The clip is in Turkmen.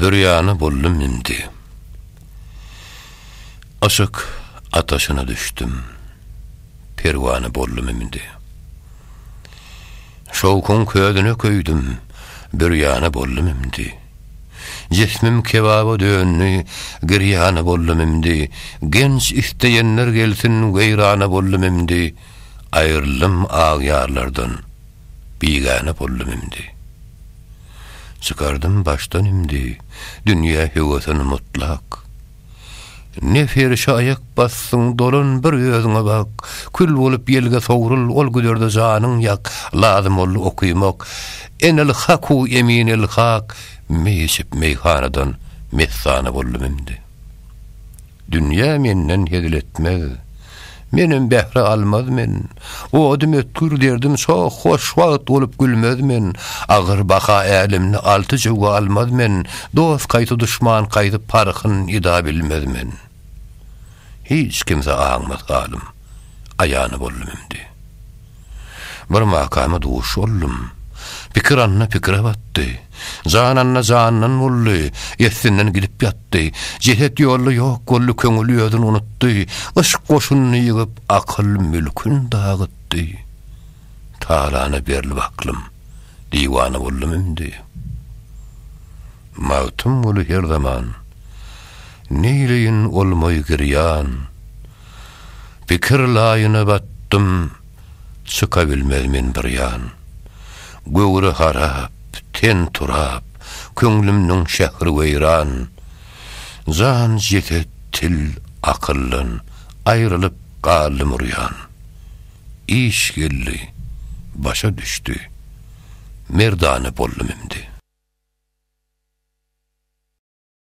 Bürýana boldum indi. Yşyk ataşyna düşdüm. Perwana boldum indi. Şowkuň közüne köýdüm. Bürýana boldum indi. Jismim kebaba döndi. Girýana boldum indi. Genç isleýenler gelsin. Weýrana boldum indi. Aýryldym agýarlardan. bigäne boldum indi. Çykardym başdan indi, dünýä höwesin mutlak. Ne ferişe aýak bassyň, dolan bir özüňe bak, kül bolup ýelge sowrul, ol güzerde janyň ýak, lazym boldy okymak, Enelhaku eminelhak, meý içip meýhanadan messana boldum indi. Dünýä menden hezil etmez. Menem bähre almaz men. Odum ötgür, derdim şoh, hoş wagt bolup gülmez men. Agyr baha älemde alty jüwge almaz men. Dost kaýsy duşman kaýsy parhyn ida bilmez men. Hiç kimse aňmaz halym, aýany boldum indi. Bir makama duş boldum. Pikir anna pikire batdy. Jan anna jandan boldy. Eslinden gidip ýatdy. Jeset ýolda ýok boldy, köňül özün unutdy. Yşk goşunyny ýygyp, akyl mülkün dagytdy. Talana berlip aklym, diwana boldum indi. Magtymguly her zaman, Neýleýin olmaý girýan. Pikir laýyna batdym, Çyka bilmez men bir ýan. Göwre harap, ten turap, Köňlümniň şähri weýran. Jan, jeset, til, akyldan Aýrylyp galdym urýan. Iş geldi, başa düşdi, Merdana boldum indi.